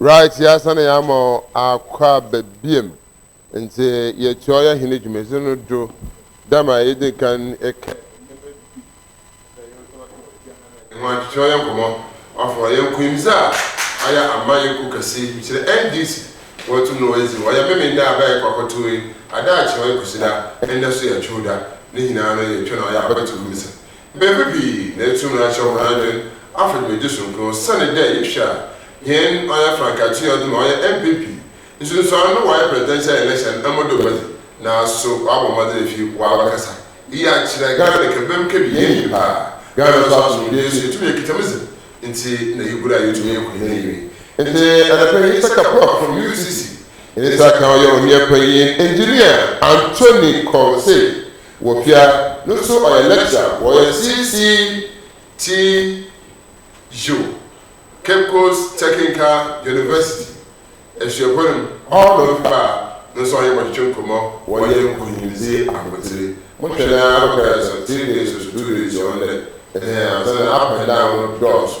Right yɛasan yɛ ama akɔ aba biam nti yɛtoa yɛ hene dwumadzi no do dɛ ma yɛdzi kan kɛ ho atwetwe yɛ nkɔmmɔ afɔr yɛ nkunyimdzi a ayɛ ama yɛ kuw kɛse yi kyerɛ NDC wɔ tum no wɔyɛ dzi ɔyɛ Memen da aber a yɛkɔ akɔtow yi ada akyerɛ ɔyɛ Kwesida ndɛ so yɛ Twowda ne nyinaa no yɛtwa na ɔyɛ abatow mbisa Mber pii na etum ahyɛ hɔn adwen afa dwumadzi soronko osian dɛ yɛhwɛ a hɛn ɔyɛ frankatsee ɔdze ma ɔyɛ NPP nsunsuando no wɔayɛ presidential election mbo do ma dzi naaso ɔabɔ mbɔdzen efi ɔabakasa iyi akyerɛ Ghana dɛ kɛbɛm kɛbi yɛn nyimpa a Ghana so asomdwee so yetum yekitsa mu dzen ntsi na iyi bura yetum yɛ nkonyim ewie ntsi anapa yi Isaka Propp from UCC Isaka ɔyɛ ɔnua panyin Engineer Anthony Kor say. Wɔ pia no so ɔyɛ lecturer wɔ ɔyɛ CCTU, Cape Coast Techincal University, Asuapɔn no mu. Ɔdɔ no paa no nso ɔnye bɔtwetwe nkɔmmɔ wɔ ɔyɛ nkunyimdzi abɔdzire. Mohwɛ no ara no ɔbɛyɛ sɛ three days or so, two days ɔno dɛ, ehe, ansa na up and down no dɔɔ so.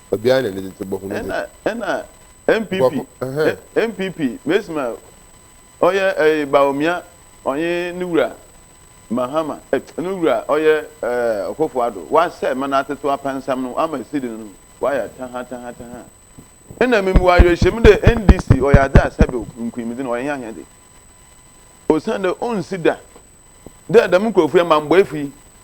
Obiara na ne tete bɔ hunu de. Ɛna NPP NPP mesima ɔyɛ ɛɛ Bawumia ɔnye ne wura Mahama ɛɛ ne wura ɔyɛ ɛɛ Ɔkofo Ado wasɛɛ ma n'atetew apansam no ama esi de no no wayɛ taha taha taha ɛna me wɔ awerɛhyɛmu dɛ NDC ɔyɛ adze a sɛbew nkunyimdzi no ɔyɛ hɛn ahɛdze osiandɛ onnsi da dɛ dɛm nkorɔfo yi amambɔɛfo yi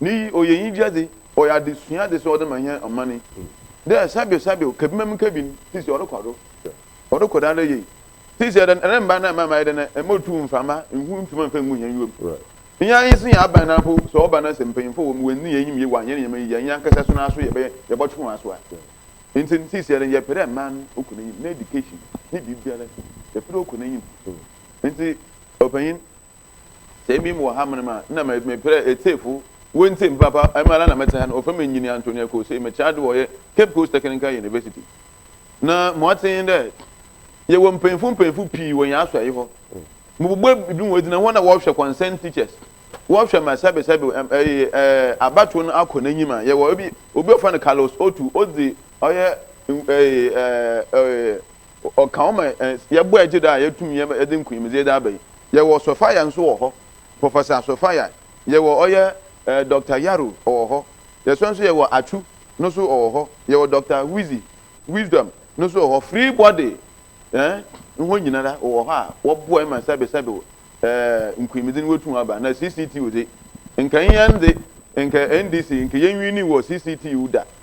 Ne yi ɔyɛ enyigyadze, ɔyɛ adzesuadze so ɔdze ma hɛn ɔman yi dɛ sɛbesɛbe kabinma mu kabin sisi ɔrokɔ do, ɔrokɔ do ara yie. Sisi ɔdɛ no remmba na mma mayɛ dɛ na mbotu mframa, nhu nntum ammfa nngu hɛn nyiwa mu. Hɛn ara yedzi hɛn aban na mpo sɛ ɔba na sɛ mpanyimfo wɔ mu woenndzi hɛn enyim yie wɔ hɛn ndzɛmba yi dze a, hɛn ankasa so no ara so yɛbɛyɛ yɛbɔtwe hɔn aso a. Ntsi no sisi ɔdɛ no yɛpɛ dɛ man no ɔkɔ n'enyim, n'education, ne biribiara yɛpɛ dɛ ɔkɔ n'enyim. Ntsi ɔpanyin. Sɛ emi mowɔ ha mber mu a, nna meperɛ etsiefo woenntsie me papaapa. Emi mara na metse ha no, ɔfa me nyin Antonio Kosee, metse ha do wɔ ɔyɛ Cape Coast Technical University. Na ma ɔtse nye dɛ, yɛwɔ mpanyimfo mpanyimfo pii wɔ hɛn asɔɛe hɔ. Mobobue binom wogyina hɔ na wɔhwɛ concerned teachers, wɔhwɛ ma sɛbesɛbe abatow no akɔ n'enyim a. Yɛwɔ obi a wɔfrɛ no Carlos Otu, odzi ɔyɛ Ɔka wo ma yɛbɔ a egye da a yɛatum yɛ yɛde nkunyimdze dze aba yi. Yɛwɔ Sophia nso wɔ hɔ, Professor Sophia. Yɛwɔ ɔyɛ ɛɛ Doctor Yaro ɔwɔ hɔ. Yɛsan nso yɛwɔ Atsu no nso ɔwɔ hɔ. Yɛwɔ Doctor Wizzy, Wisdom, no nso wɔ hɔ. Free Body ɛɛ hɔn nyinara wɔwɔ hɔ a wɔboa ma sɛbesɛbe ɛɛ nkunyimdze no woetum aba. Na CCTU dze, nka hɛn dze nka NDC nka yennwiinii wɔ CCTU da.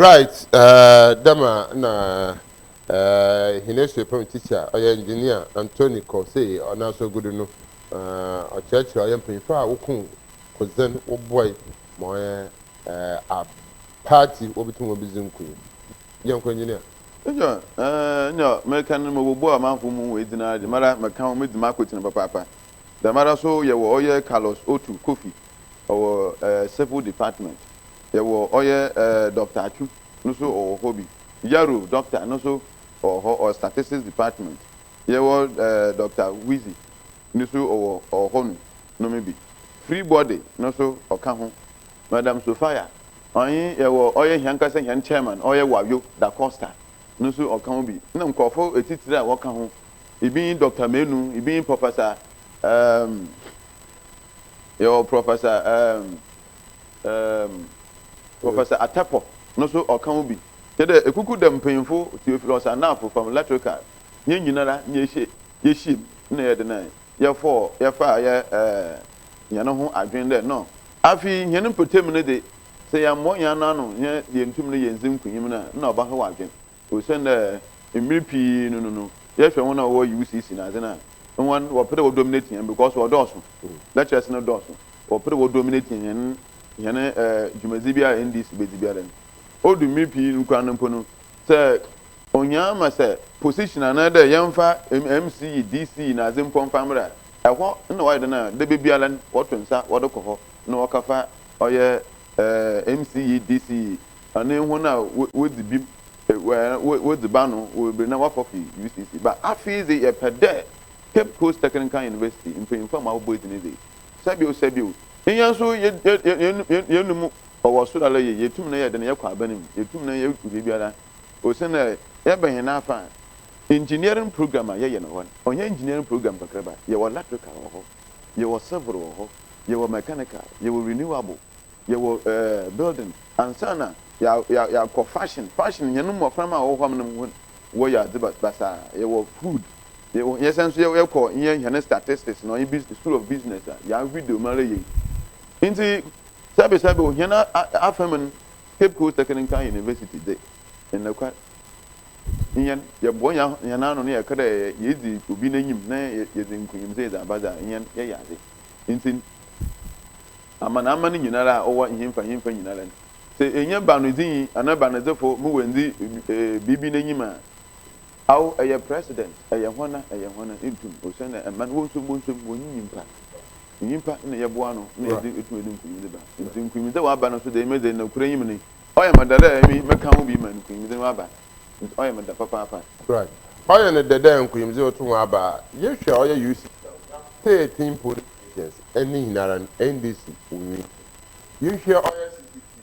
Right eh, dɛ ma nna eh, hɛn esuapɛm teacher a ɔyɛ engineer Anthony kɔ sei ɔn'aso egu do no, eh, ɔkyerɛkyerɛ ɔyɛ mpanyimfo a wokun kodzen, woboae ma ɔyɛ Eh, a party obi to wɔn bi dzi nkunim. Gye nkɔ engineer. Nnyɛ eh, nnyɛ mereka no mobɔbɔ amanfo mu edzin ara dze, mara meka hɔn medzi m'akotsen papaapa. Dɛmara so yɛwɔ ɔyɛ Carlos Otu Kofi, ɔwɔ eh, Civil Department. Yɛwɔ ɔyɛ eh, Doctor Atsu, no so ɔwɔ hɔ bi. Yaro Doctor no so ɔwɔ hɔ, ɔwɔ Statistics Department. Yɛwɔ eh, Doctor Wizzy, no so ɔwɔ ɔwɔ hɔ no, no me bi. Freebody no so ɔka ho. Madam Sofia, ɔnye yɛwɔ ɔyɛ hɛnkasa hɛn chairman ɔyɛ Wayo Da Costa no so ɔka ho bi, na nkorɔfo etsitsir a wɔka ho bi nye Dɔkta Manu, bi nye Professor um, yɛwɔ Professor um, um, Professor Atepo no so ɔka ho bi. Kyerɛ dɛ ekuku dɛm mpanyimfo, Theophilus Anafo from Electrical, hɛn nyinara na yɛhyɛ, yehyiam na yɛdze no yɛfɔɔ, yɛfaa yɛ eh, hɛn ho adwen dɛ no, Afei, hɛn mpɔtamu no dze, sɛ yɛammbɔ hɛn anan ano na yenntum no yenndzi nkonyim no a, nna ɔbɛhaw adwen. Osiandɛ mber pii no no no, yɛhwɛ hɔn a wɔwɔ UCC na adze no a, hɔn wɔpɛ dɛ wɔ dominate hɛn because wɔdɔɔ so, lectures no dɔɔ so, wɔpɛ dɛ wɔ dominate hɛn hɛn dwumadzi biara a NDC bedzi biara no. Odu mber pii no koraa no mpo no, sɛ. Onyaa ma sɛ position anaa dɛ yɛmfa MC yi DC yi nadze mpo mfa mbra. Ɛhɔ nna ɔayɛ dɛn a dabebiala n' wɔto nsa wɔdze kɔ hɔ na wɔkɛfa ɔyɛ MC yi DC yi ɔne hɔn a wodzi bim wodzi bano wɔ beberee na wɔakɔ fi UCC ba. Afei dze yɛpɛ dɛ Cape Coast Technical University mpanyimfo a ma wɔbɔ edzi no dze sɛbio sɛbio nyɛ so yɛn yɛn yɛn yɛn yɛn no mu ɔwɔ sor ara yie yɛtum na yɛyɛ dɛn yɛkɔ aban mu yɛtum na yɛyɛ bebiara. Ose na yɛbɛn hɛn afã a, engineering programme a yɛyɛ no hɔ no, ɔnnyɛ engineering programme kakraba. Yɛwɔ electrical wɔ hɔ, yɛwɔ civil wɔ hɔ, yɛwɔ mechanical, yɛwɔ renewable, yɛwɔ eh, building. Ansaana yɛa, yɛakɔ fashion, fashion, hɛn mboframba a wɔwɔ hɔ no hɔn, wɔyɛ adze bas, basaa. Yɛwɔ food, yɛwɔ, yɛsan so yɛ, yɛkɔ yɛ hɛn statistics na ɔnye busi, school of business a, yɛavideo mu ara yie. Ntsi, sɛbesɛbe wɔ hɛn a, a, afamu no, Cape Coast Technical University dze nnokwar hɛn yɛboa hɛn ano na yɛka dɛ yedzi obi n'enyim na yɛdze nkunyimdzi dze aba dza hɛn yɛyɛ adze ntsi no. Amanaman nyinara a ɔwɔ henfa henfa nyinara no, sɛ ennya banodzinyi anaa banadzifo ma oenndzi biribi n'enyim a, Awo ɛyɛ president ɛyɛ hɔna ɛyɛ hɔna ntum osiandɛ mma no wɔnsom wɔnsom wɔnye nyimpa nyimpa na yɛboa ano na yɛdze etum edze nkunyimdze ba ntsi nkunyimdze wɔaba no so dɛ emi dze nokwar enyim no ɔyɛ me dɛ dɛ emi mɛka ho bi ma nkunyimdze no aba ntsi ɔyɛ me dɛ papaapa. Right ɔyɛ no dɛ dɛ nkunyimdze no tum aba a yehwɛ ɔyɛ UC Tee Tin Police Agency ne nyinara no NDC Owinti yehwɛ ɔyɛ CCTV.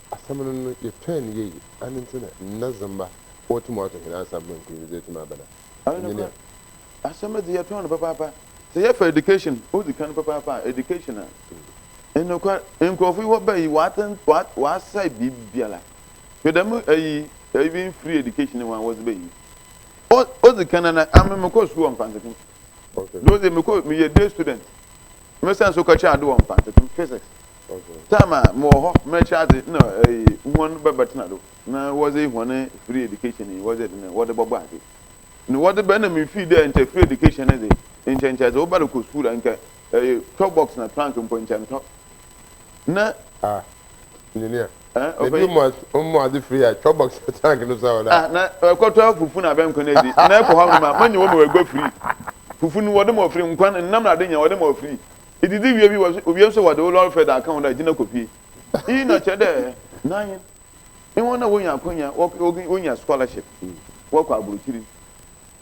Asɛm no no, yɛtɔɛɛ no yeye, ane nti na nna dzemba otum ato hɛn ansaafo ma nkunyim dze etum aba no? Ɔyɛ Nye nea. nokwar, asɛm no dze, yɛtɔn no papaapa. Sɛ yɛfa education odzi kan papaapa a, education a, nn nokwar, nkorɔfo yi wɔba yi, wɔatsen, wɔat, wɔasɛɛ biribiara. Hwɛ dɛm ayi, even free education ho a wɔdze ba yi, o, odzi kan no, nna ame mokɔr skuul wɔ Mfantsekem. Okay. Dɛ odzi, mekɔr, meyɛ day student, mesan so kɔkyerɛ adze wɔ Mfantsekem, physics. Time a mowɔ hɔ mɛkyɛ adze nna hɔn bɛbɛtsena do na wɔdze hɔn free education yi wɔdze dze wɔdze bɔbɔ adze. Na wɔdze bɛ na mifii dɛ nkyɛ free education ne dze nkyɛ nkyɛ dze wo ba rokɔ skuul a nka tɔ box na trunk mpo nkyɛ ntɔ na. Ah engineer na bi mu ɔmɔ adze free a tɔ box na trunk no so a wɔdze. Ah na kɔtɔ fufu na abɛnkwan edzi na ekɔ hɔ nom a manya wɔ ma wo egua free fufu no wɔdze ma wo free nkwan nnam na adze nyina wɔdze ma wo free Idzidzi wie bi wɔ so, owie so wɔdze wo lɔɔre fɛr da ka ho dɛ gyina kopue. Iyi na ɔkyerɛ dɛ na hɛn nye hɔn a wonya akwanya wɔkɔ wonya scholarship wɔkɔ aborɔkyir no,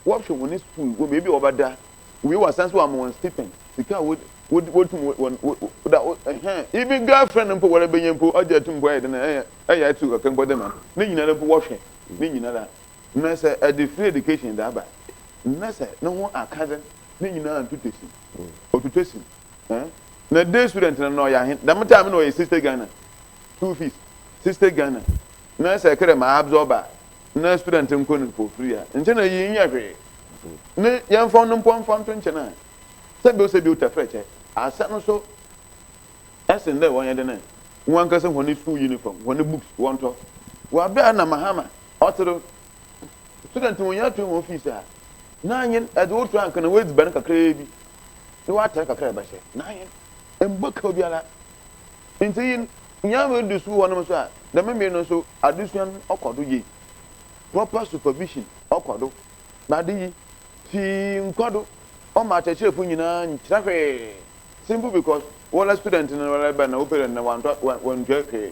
wɔhwɛ hɔn skuul wɔ beebi a wɔbɛda wie wɔasan so wɔama hɔn stipend, sika a wod wod wotum wo wɔn wo da wo hɛn even girlfriend mpo wɔrebenya mpo ɔgye to mpo ayɛ dɛn ayɛ ayɛ atsiw kakra mpo dɛ ma no. Ne nyinara mpo wɔhwɛ ne nyinara na sɛ ɛdze free education dze aba na sɛ no ho akã dzen ne nyina ntotɔsi. Ɔtwitwa sim. Na day student no na ɔyɛ ahen. Dɛm time no na ɔyɛ sixty Ghana school fees. Sixty Ghana. Na sɛ ɛkɛdɛ ma absorb a, na student nkɔ no for free a, nkyɛ na iyi nnyɛ hwee. Ne yɛmfa ɔno mpo mfa nto nkyɛn a, sɛbi ɔsɛ bi ɔtafir kyɛ asɛ no so sen dɛ wɔnyɛ dɛn ɛ, wɔankasa hɔn school uniform, hɔn books wɔntɔ. Wɔ aber a nna Mahama ɔtse do Student wonnya atua hɔn fees a, n'anyen edze wo tra nka na w'edziban kakraa bi na w'atar kakra a ebɛhyɛ, n'anyen mmbɔka obiara. Ntsi yin, nyia woedu skuul hɔ nom so a, dɛm mber no so adesua no ɔkɔ do yie. Proper supervision ɔkɔ do, na adze yi fi nkɔ do ɔma akyerɛkyerɛfo nyina nnkyerɛ hwee, simple because wola student no rebɛn na wo parent no wɔanntɔ wɔanntua hwee.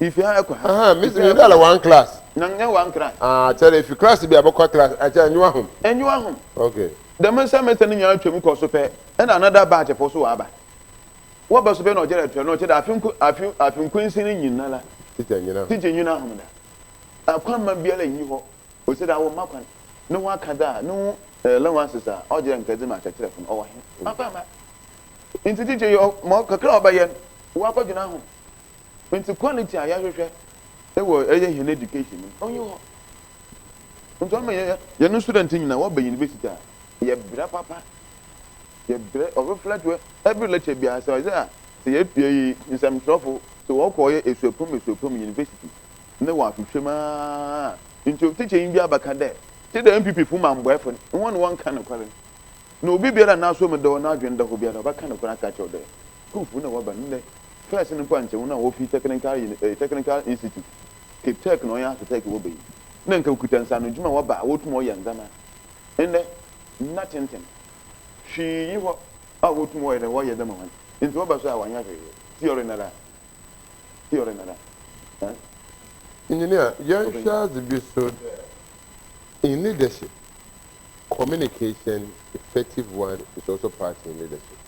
Ifi ha kɔ ha. Ahaa, me me dala one class. Na nyɛ one class. Ah, kyɛrɛ ifi class bi a bɛkɔ class akyɛ enyiwa hom. Enyiwa hom. Okay. Dɛm nsɛmɛsɛ no nyinaa twam kɔ so pɛ na another batch fo so wɔaba. Wɔba so pɛ na ɔkyɛrɛ tra no ɔkyɛ dɛ afe nko afe afe nkwansin no nyinara. Teacher nyina hom. Teacher nyina hom da. Akwamma biara nnyi hɔ ɔsɛ dɛ awɔ mma kwan. No ho aka dɛ a no ho allowances a ɔgyerɛ nka dze ma akyɛkyerɛfo no ɔwɔ he? Ɔafa mma. Ntsi teacher yi ɔ ma kakra a ɔbɛyɛ no wɔakɔdwena hom. Ntsi quality a yɛhwehwɛ wɔ yɛ hɛn education mu no onnyi hɔ. Ntsi ɔma yɛ hɛn student nyina wɔba university a yɛbrɛ papa, yɛbrɛ, ɔ reflect wɔ every lecture biara sɛ ɔyɛ a sɛ yɛpue yi nsɛmtwerɛfo sɛ wɔkɔ yɛ esuapɔn mu esuapɔn mu university na wɔahwehwɛ mu aa ntsi ɔ tikyanyi bi abɛka dɛ tse dɛ NPP fo mu ambɔɛfo no hɔn wɔnnka nokwar no na obi biara a n'asomu da hɔ n'adwen da hɔ biara ɔbɛka nokwar aka akyerɛ wo dɛ Skulfoɔ na waba nnɛ. First no mpo ankyɛ wɔn a wɔfiri technical uni eh, technical institute, Capetech na wɔyɛ architect wɔ bɛyi. Na nka ɔkuta nsaano dwuma a waba a wɔtumi ɔyɛ ndzɛma. Nnɛ nna tenten. Hwee nyi hɔ a wɔtumi ɔyɛ dɛ wɔyɛ dɛ ma hɔn. Nti waba so a wɔanyɛ hwee. Theory nara. Theory nara. Eh. Engineer, yɛnhwɛ adze bi so dɛ in leadership. Communication effective one is also part in leadership.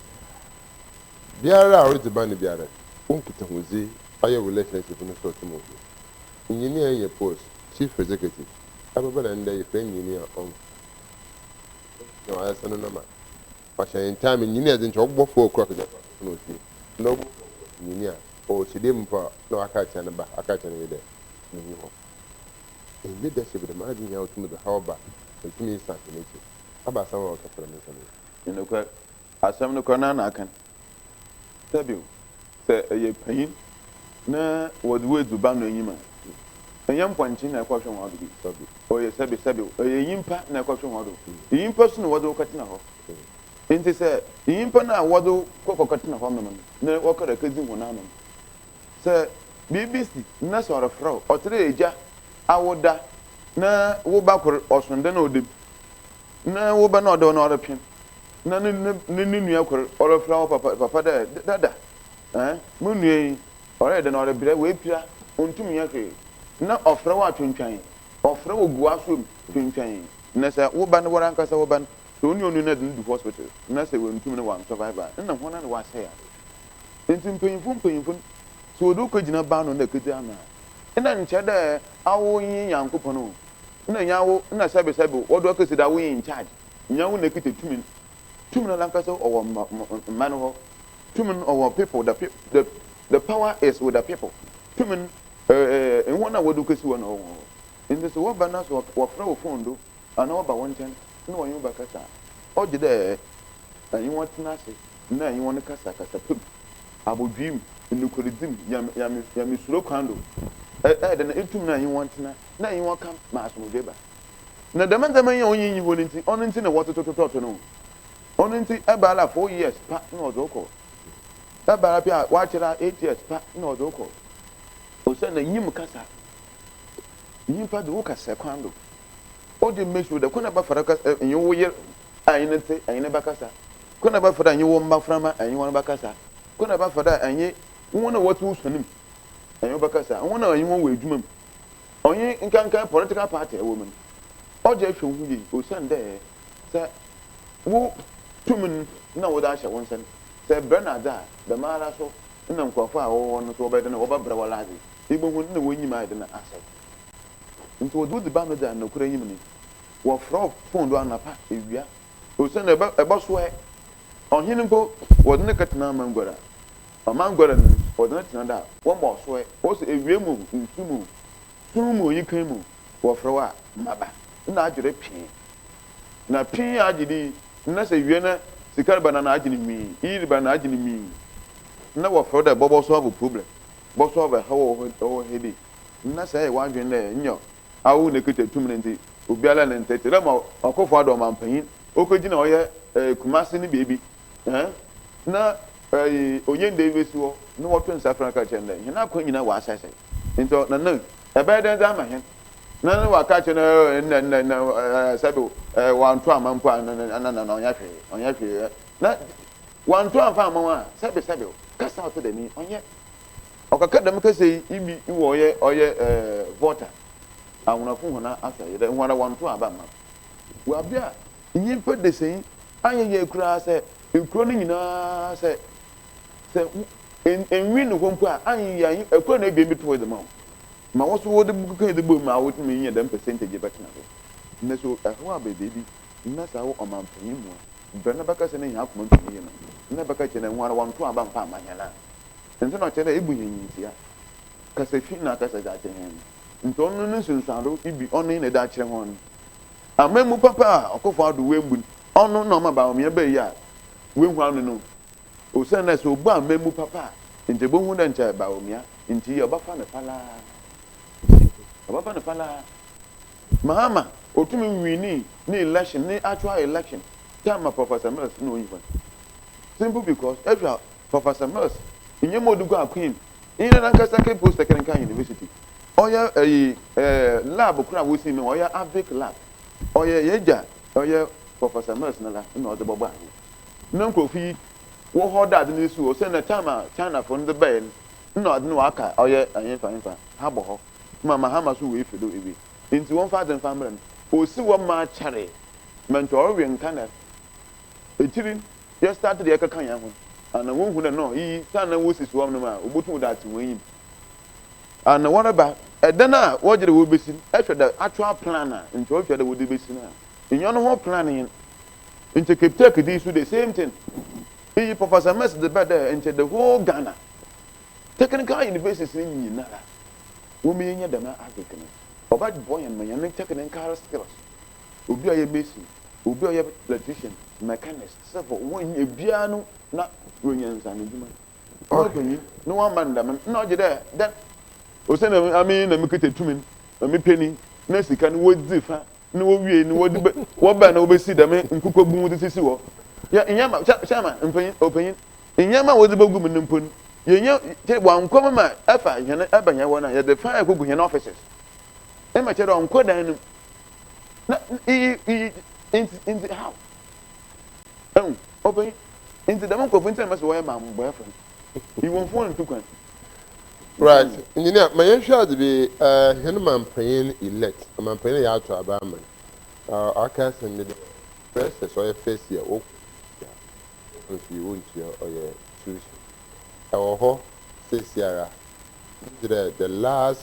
Biara a ɔredze ba no biara no, wo nkitahodzi ayɛ wo relationship no sort mu hia. Engineer Enye Post, Chief Executive, abɛba na ndɛ yɛfrɛ Engineer Ong. Engineer a ɔayɛsɛ no nɔma ɔhyɛ ne ntaame Engineer dze nkyɛ ɔbobɔ four o'clock dze akɔ akɛfa no wɔ fie. Ndɛ ɔbobɔ four o'clock Engineer a ɔwɔ hyiadua mu mpo a na ɔaka akyerɛ ne ba, aka akyerɛ ne yer dɛ, Minnyi hɔ. Ndɛ da hyɛ bi dɛm adwen yi a otum dze haw ba na otum dze san hɛn ekyir aba asɛm a ɔkɛfa dɛm nsɛm yi ho. Nye nokwar, asɛm no kor no ara na aka no. Ka bio, sɛ eyɛ panyin na wɔdze wo edzi ban no enyim a, nnyɛ mpɔnkye na ɛkɔhwe hɔn do bi, ɔyɛ sɛbe sɛbe ɔyɛ nyimpa na ɛkɔhwe hɔn do. Nyimpa so na wɔdze wo kɛtsena hɔ. Ntsi sɛ nyimpa no a wɔdze wo kɔ kɔkɛtsena hɔ nom no na wɔkɔr akedzi hɔn ano no, Sɛ biribi si na sɛ ɔrefrɛ wo, ɔkyerɛ Agya a woda na wo ba kor ɔso dɛ na ɔda bi, na wo ba no a ɔda hɔ no ɔretwe na ne ne ne nua kor ɔrefrɛ wo papa papa dɛ dada eh mo nua yi ɔreyɛ dɛn ɔrebrɛ oepira onntum nnyɛ hwee na ɔfrɛ wo a twentwɛn ɔfrɛ wo gu w'asowa mu twentwɛn na sɛ wo ba no woarankasa wo ba no sɛ ɔnye ɔnnu no dze no du hospital na sɛ oenntum no ɔann survive a nna hɔn na wɔasɛɛ adze. Ntsi mpanyimfo mpanyimfo no, sɛ wɔdze wo kegyina ban no na ekedzi ano a, nna nnkyerɛ dɛ awo nye Nyankopɔn o, nna nnyɛ awo na sɛbesɛbe wɔdze wo akesi dɛ awo nye in charge, nnyɛ awo na ekitsa tum no. Tum no nankasa ɔwɔ mba no hɔ, tum no ɔwɔ people, the the the power is with the people, tum no hɔn a wɔdze wo kesi hɔ no ɔwɔ hɔn hɔ. Ntsi sɛ wɔba na sɛ wɔfrɛ wo phone do, Ana ɔba wo nkyɛn na ɔnye wo bɛkasa a, ɔgye dɛ enye hɔn tsena ase na enye hɔn kasa kasape mu, abodwee mu, nokwardzi mu, nyamesuro kwan do. Ɛ-ɛ dɛn na itum na enye hɔn tsena na enye hɔn ka ma asomdwee ba? Na dɛm ndzɛmba yi a onnyi nnyi hɔ no ntsi, ɔno ntsi na wɔtotototɔto no. Ɔno ntsi ebɛara four years pa na ɔdze wo kɔ. Ebɛara bi a ɔakyɛr a eight years pa na ɔdze wo kɔ. Osiandɛ nyim kasa. Nyimpa dze wo kasa kwan do. O de make sure dɛ kwan na bɛfara kasa eh, enye wo yer a enye no tse enye no bɛkasa, kwan na bɛfara enye wo mbaframba enye hɔn bɛkasa, kwan na bɛfara enye hɔn a wɔtse wo suan mu enye wo bɛkasa, hɔn a enye hɔn wɔ edwuma mu, ɔnye nkanka political party a ewɔ mu no. O de hwɛ woho yie osiandɛ sɛ wo tum no na wɔdze ahyɛ wo nsa no, sɛ ebrɛ no adze a, dɛmara so na nkorɔfo a wɔwɔ hɔ no so wɔbɛyɛ dɛn wɔbɛbrɛ wo adze, ibohu nna w'enyim ayɛ dɛn asɛɛ. Ntsi wɔdze wo dze ba no dze anokwar enyim no, wɔfrɛ wo foon do anapa, ewia, osiandɛ ɛbɛ ɛbɔsoɛ. Ɔhen mpo, wɔdze no kɛtsena amangua do a, ɔmangua do no, wɔdze no tsena do a, wɔma ɔsoɛ. Ɔsɛ ewia mu o, nsu mu o, sum mu o, nyikan mu o, wɔfrɛ wo a, maba. Nna agye do pee. Na pee a agye do yi, nna sɛ ewia na sika reba no a, nna agye no nwii, iyi reba nna agye no nwii. Nna wɔfrɛ wo dɛ bɔ bɔsoa wo problem, bɔsoa wo ɛhaw a ɔwɔ hɔ, ɔwɔ hɔ yi bi, Nna sɛ yɛ w'adwen dɛ nnyɛ awo na ekitsa tum no ntsi obiara nna nntse tse dɛ ma Ɔkofo Addo ɔmampanyin okegyina ɔyɛ Kumasi ne beebi na ɔnye ndɛ yi besi hɔ na wɔto nsa frɛ no ka kyerɛ no dɛ hɛn akwan nyina wɔasɛsɛɛ ntsi ɔnana ɛbɛyɛ dɛn dze ama hɛn na no wɔaka akyerɛ no dɛ nna nna nna sɛdo wɔannto amma mpo a nna nana ɔnnyɛ hwee ɔnnyɛ hwee na wɔannto ammfa amma wo a sɛbesɛbe kasa a ɔtse dɛm yi ɔnnyɛ Ɔkãkã dɛm kasa yi bi wɔ ɔyɛ ɔyɛ Volta Awnafo hɔn asɔr yi dɛ hɔn ara wɔnntow aba mma no. Wɔ aber a nyimpa desɛnyi annyɛ yie koraa sɛ ekurow no nyina sɛ sɛ enwin no hɔ mpo a annyɛ yie a akor na ebien bi towee dze ma wo ma wo so wɔdze kãkã yi dze bɔɔ mu ma awotum enya dɛm percentage yi bɛtsena do. Ndɛ so haw aba beebi na sɛ awo ɔmampanyin mu a, mbrɛ no bɛkasa no hɛn akoma nntum nnye no na bɛkã kyerɛ dɛ hɔn ara wɔnntow aba mmfa mma hɛn a Ntsi na ɔkyerɛ dɛ ebu hɛn nyimdzee a kasa fi na akasa dze akyerɛ hɛn no, ntsi ɔno no nsunsuando bi ɔno nye no dze akyerɛ hɔn no. Amambu papa a ɔkɔfa ɔdo woembu no, ɔno na ɔma baawamea baa yi a woehu ano no, osiandɛ sɛ obu amambu papa a, nkyɛ ibohu dɛ nkyɛ baawamea ntsi yi a ɔbɛfa no palaa, ɔbɛfa no palaa. Mahama otum wiinii ne election, ne actual election, time a Professor Mills na onyi hɔ no, simple because ehwɛ a Professor Mills nnyɛ ma odugu akoem, iyi na nankasa ke poster kenkan university. Ɔyɛ eyi eh lab kor a wosi me hɔ, ɔyɛ Avic lab. Ɔyɛ yegya ɔyɛ Professor Mills no la na ɔdze bɔbɔɔ ano. Nna nkorɔfo yi wɔ hɔ dɛ adze no resi hɔ osiandɛ time a Chinafo no dze bae no nna adze no wɔaka ɔyɛ anyɛmfa nyɛmfa ha bɔ hɔ ma Mahama so oefi do ewie ntsi wɔmfa adze mfa mbrɛ no. Osi hɔ ma akyɛree, ma nkyɛ ɔrowe nkanɛ, ekyir yɛ start dɛ yɛkɛkã hɛnho no, ana wonnhu dɛ no iyi tan na wosi so hɔnom a wobotum dze atse hɔn enyim? Ana wɔreba dan a wɔgye dɛ wobesi no hwɛ dɛ actual plan a nkyɛ wɔhwɛ dɛ wɔdze besi no a nnyɛ no ho plan nye no? Nkyɛ Kiptek dze yi so the same thing. Iyi Professor Mess dze bae dɛ nkyɛ the whole Ghana technical universities no nyinara wombenya dɛm adze kã no. Ɔbɛbɔ hɛn ma hɛn technical skills, obi a ɔyɛ mason, Obi a ɔyɛ electrician, mechanist, civil, wɔn ebiara no na wɔanya nsa no adwuma. Wɔn panyin na wɔn ama no dɛm na ɔgye dɛ dɛ ɔsɛ na ame na me kita tumi na me pɛ ni na sika no wɔdzi fa na wɔwie no wɔde bɛ wɔbɛn na wɔbɛsi dɛm nkokɔ bu wɔde sisi hɔ yɛ nyɛ ma kyɛ kyɛ ma mpanyin ɔpanyin nyɛ ma wɔdze bɛgu mu no mpo no yɛ nyɛ kyɛ wɔnkɔ mu ma ɛfa hɛn ɛbɛn hɛn hɔ no a yɛde fa ɛkɔgu hɛn offices ɛma kyɛ dɛ ɔnkɔ dan no mu. na iyi iyi nti nti how ɛhu ɔbɛn nti dɛm nkurɔfo nti na mɛsɛ wɔyɛ maa mo bɔyɛfo no iwɔnfo wɔn ntu kwan. Right engineer ma yɛn hwɛ adze bi ɛɛ hɛn manpanyin elect ɔmanpanyin yɛ ato aba ama no ɔaka asɛm bi dɛ precious ɔyɛ first year wo kɔ nso yi wo ntua ɔyɛ tuition ɛwɔ hɔ sesiara megye dɛ the last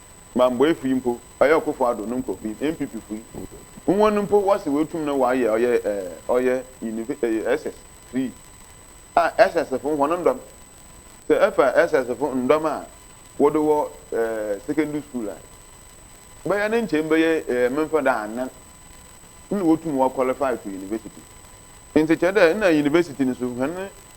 Bamboefo yi mpo, ɔyɛ Ɔkofo Addo no nkorɔfo yi, NPPfo yi, hɔn mpo wɔse woetum no wɔayɛ ɔyɛ ɛɛ ɔyɛ unive ɛɛ SS free a SSfo hɔn ndɔm sɛ efa SSfo ndɔm a wɔdɔ wɔ ɛɛ secondary school a bɛyɛ ne nkyɛmu bɛyɛ ɛɛ memfa dɛ anan nna wotum wɔ qualify to university ntsi kyerɛ dɛ nna university no so hɛn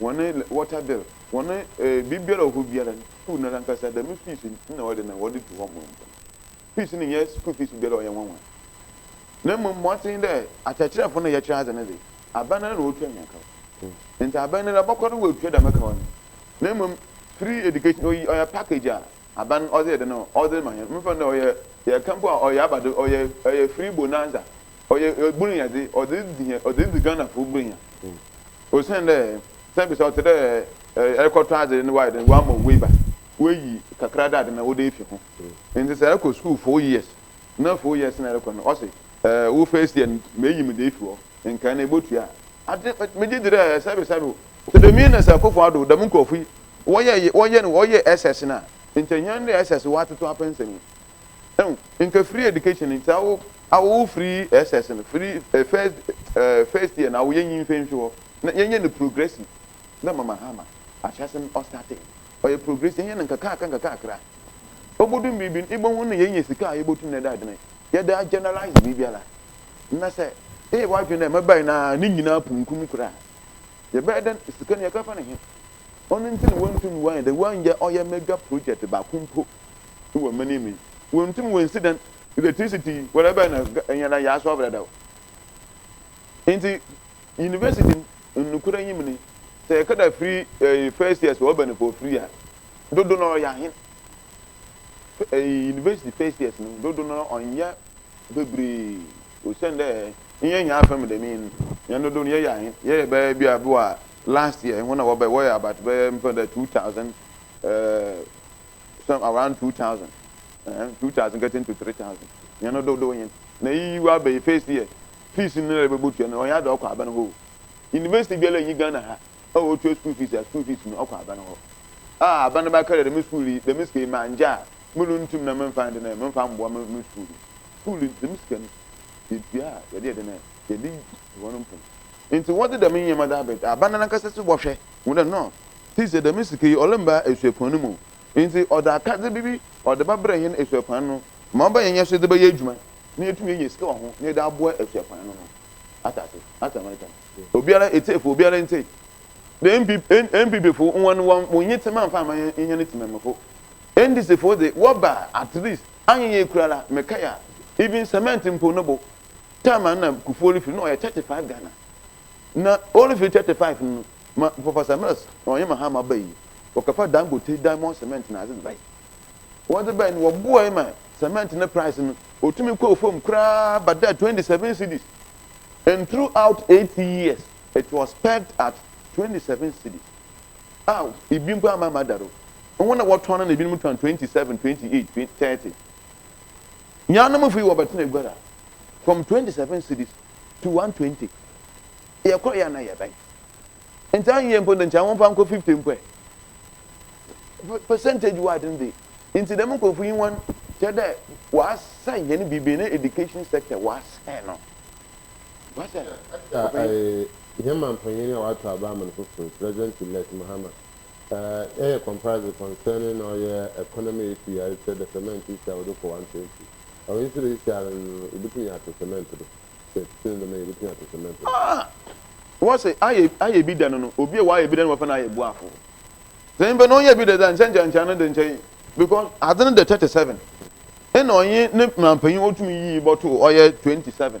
wɔne water bill, wɔne eh, biribiara wɔ hɔ biara no, school no ankasa, dɛm fees na wɔde na wɔde tu hɔ mo nko. Fees no nyɛ school fees biara ɔyɛ nwanwa. Na mmom mmɔnten dɛ akyerɛkyerɛfo no yɛkyerɛ adze no dze, aban no ara na ɔretua hɛn kaw. Ntsi aban no ara bɔkɔ do woetua dɛm kaw no. Na mmom free education oyi ɔyɛ package a aban ɔdze yɛ dɛn ɔdze ma hɛn. Memfa no dɛ ɔyɛ yɛka mpo a ɔyɛ aba do ɔyɛ ɔyɛ free bonanza. Ɔyɛ Buroni adze, ɔdze dzi hɛn, ɔdze dzi Ghanafo Buronyɛ. Osiandɛ sɛ ebisa a ɔtse dɛ erokɔtɔ adze na wɔayɛ dɛn, wɔama wo waiver, woeyi kakra dɛ adze no wode efi ho. Ntsi sɛ erokɔ skuul four years na four years na erokɔ no wɔse wo first year no meyi mu dze efi hɔ, nkae no ebotua a. Adze megye dzi dɛ sɛ ebisa me o, sɛ Damian na sɛ Akuffo Addo dɛm nkorɔfo yi wɔyɛ wɔyɛ no wɔyɛ SS no a, nkyɛ hɛn dɛ SS wɔatoto apɛ nsɛm yi. Ehu nka free education nti awo awo wo free SS no free eh, first eh, first year na awo yɛnyi mfɛ nhwe hɔ na yɛnyɛ no progressive dɛ ma Mahama ahyɛ ase no ɔstate ɔyɛ progressive yɛnyɛ no nkakakra nkakakra obodum biribi no ibohu no yɛnya sika a yɛbotum na ɛda adwene yɛde a generalize biribiara na sɛ eyɛ w'adwene dɛ mɛbae na ne nyinaa punkum koraa a yɛbɛyɛ dɛn sika no yɛkɛfa no he ɔno nti na wɔntum wɔanyɛ dɛn wɔanyɛ ɔyɛ mega project baako mpo no wɔ mene me. Wontum wonsi dan electricity wara bɛn na ɛnyɛ dan yɛaso abrɛ da o. Nti university no nnokorɛ nyim ne sɛ yɛkɛda firi ɛyi first year sɛ ɔba nipa ɔfiri a dodo na ɔyɛ ahen ɛyi university first years no dodo na ɔnyɛ bebree osian dɛ nyɛ hɛn afa mu dɛm yi no hɛn dodo no yɛyɛ ahen yɛyɛ bɛyɛ bi a bi wɔ a last year hɔn a wɔbɛ wɔyɛ about bɛyɛ mfa dɛ two thousand ɛɛ. some around two thousand ɛɛ two thousand getting to three thousand yɛn no dodow yɛn na eyi wa bɛyɛ first year fees no na ɛbɛbɔ tua no ɔyɛ ada ɔkɔ aban hɔ university biara nyi ghana ha a ɔtua school fees a school fees no ɔkɔ aban hɔ a aban no bɛka dɛ dɛm school yi dɛm sika yi ma ngya a mo no ntum na mo nfa de na mo nfa mboa mo mo school yi school yi dɛm sika no yɛtua a yɛde yɛde na yɛde Hɔn no mpo ntsi wɔdze dɛm ndzɛmba dze abɛda aban no nankasa so bɔhwɛ, hu dɛ no tse dze dɛm sika yi ɔremmba esuapɔn no mu. Ntsi ɔdze akadze bi bi ɔdze bɛbrɛ hɛn esuapɔn no ma ɔbɛyɛ hɛn so dze bɛyɛ edwuma na yeetum enya sika wɔ ho na yɛdze aboa esuapɔn no no. Atse ase? Atse ma mekã no? Obiara, etsiefo, obiara ntsie. Dɛ MP, NPPfo hɔn wɔ wo nye tsema mfa mma hɛn, hɛn tsemammufo. NDCfo dze wɔba a, at least, annyɛ yie koraa la, mekae a, even cement mpo no bo, time a na Kufuor refiri na ɔyɛ thirty five Ghana na ɔrefiri thirty five no ma Professor Mills na ɔyɛ Mahama ba yi wɔkɔfa Dangote diamond cement na adze bae wɔdze bae no wɔboae ma cement ne price no otumi kɔɔ fam koraa bɛdaa twenty seven cedis and throughout eight years it was pegged at twenty seven cedis a ah, ebi mpo ama ama da do wɔn na wɔtɔn no na ebinom tɔn twenty seven twenty eight thirty. Nuanom fii hɔ bɛtenaa Guara from twenty seven cedis to one twenty. Yɛkɔeɛ a na ɛyɛ bɛn? Nti anyɛ mpo de nkyɛ wɔmfa nkɔ fifty mpo ɛ. Percentage wide no de nti dɛm nkurɔfo yi wɔn kyerɛ dɛ wɔasɛe hɛn biribi ne education sector wɔasɛe no. Wɔasɛe no. Ɛda a ɛɛ hɛn mampanyin a ɔato aba ama no fofor, President Elect Mahama Uh, yɛyɛ comprised concerning na ɔyɛ economy issue a ɛkyerɛ the cement issue a wɔde kɔ one twenty ɛwɔ nso de issue ara no yɛbɛtumi ato cement do sɛ ɛtete no dɛm a yɛbɛtumi ato cement do. Ah! Wɔ se ayɛ ayɛ bi da no no obi a wayɛ bi da no wɔfɛ no ayɛ boafo sɛ nyimpa no ɔnyɛ bi da dza nkyɛ nkyɛ nkyɛ ano de nkyɛ yi because adze no dɛ thirty seven ɛna ɔnye ne mmerampanyin ɔtumi yii bɔtoo ɔyɛ twenty seven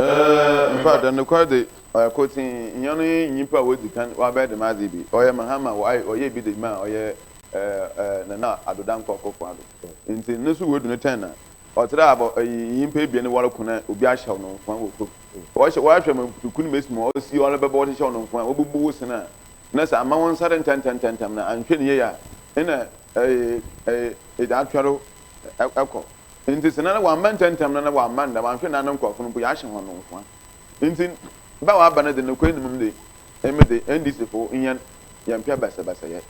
Eh, in fact, nokwar dze, ɔyɛ kortsee, nyia no nye nyimpa a wodzi kan ɔabɛyɛ dɛm adze yi bi. Ɔyɛ Mahama Y. Ɔyɛɛ bi dze maa ɔyɛ eh, eh, Nana Addo Dankwa Akufo-Addo. Ntsi no so woedu no tɛn na ɔtseraa abɔ eyi nyimpa ebien no wɔroko na obi ahyɛw no nkoa wɔ kor. Wɔhyɛ, wɔahwɛ ma mputuku no mesi ma ɔsi ɔno bɛbɔ wɔhyehyɛw no nkoa, wobubu wo sen a, na sɛ amma wo nsa do ntsɛntsɛntsɛntsɛm na annhwɛ no yie a, nna eh, eh, edze atweɔn do kɔ. Ntsi sɛ nna wɔammba ntsɛntsɛm no na wɔamma nda, wɔannhwɛ nda no nkorɔfo no mpo yɛahyɛ hɔn nkuran. Ntsi ba a ɔaba no dze nokwar no mu dze, emi dze NDC fo hɛn yɛmmpɛ basabasayɛ.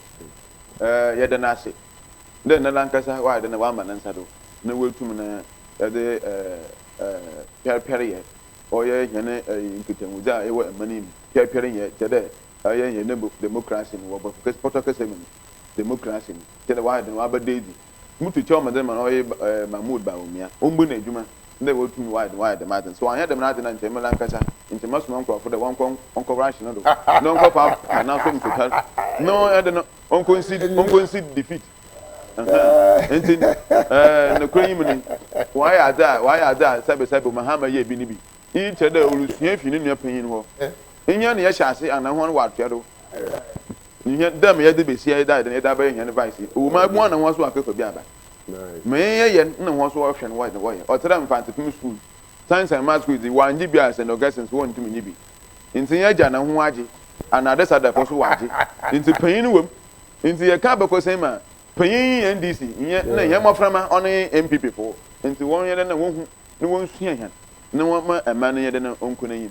Yɛda no ase dɛ ndɛ nankasa ɔayɛ dɛ nna ɔama ne nsa do na oetum no dze pɛrpɛryɛ ɔyɛ hɛn nkitahodzi a ewɔ man yi mu. Pɛrpɛr nnyɛ kyerɛ dɛ ɔyɛ hɛn democracy no wɔ bɔtɔ kɛse mu no, democracy no kyerɛ dɛ ɔayɛ dɛ nna ɔabɛda edzi. Mutu kyɛw ma dɛ ma ɔyɛ eh Mahmood Bawumia, ombu no edwuma dɛ oetum ɔayɛ dɛm ɔayɛ dɛm adze no. Sɛ ɔannyɛ dɛm n'adze no a nkyɛ emi lankasa nkyɛ mɛsoma nkorɔfo dɛ wɔnkɔ nkɔ rush no do na ɔnkɔ fa pa n'aso mu totar na ɔde no ɔnkɔ nsi ɔnkɔ nsi defeat. Ahaa ntsi eh nokwar yi mu no ɔayɛ adze a ɔayɛ adze a sɛbesɛbe Mahama yɛɛ bi no bi. Iyi kyerɛ dɛ orusua efi no nua panyin no hɔ. Nyia na yɛhyɛ ase ana hɔn wɔatoa do? Nhwɛ dɛ meyɛ dze besia yi dae dɛn yɛdze abɛyɛ hɛn vice yi. Ɔwɔ mu a, ebɛn na hɔn so wɔakekɔ bi aba. Ma yɛnyɛ yɛn na hɔn so wɔhwɛ no dɛ wɔyɛ. Ɔtse dɛ Mfantse Pim Skuul, Science and Maths quiz yi, wɔanngye bi a St. Augustine so wɔnntum nnye bi. Ntsi yɛgya na hom agye. Ana Adesadafo so wɔagye. Ntsi panyin no wɔ mu. Ntsi yɛka abakɔsɛm a, panyin nye hɛn DC, nnyɛ nna hɛn mboframba, ɔno nye MPP fo. Ntsi wɔnyɛ dɛn na wonhu na wonsua hɛn na wɔmma man no nyɛ dɛn na ɔnkɔ n'enyim.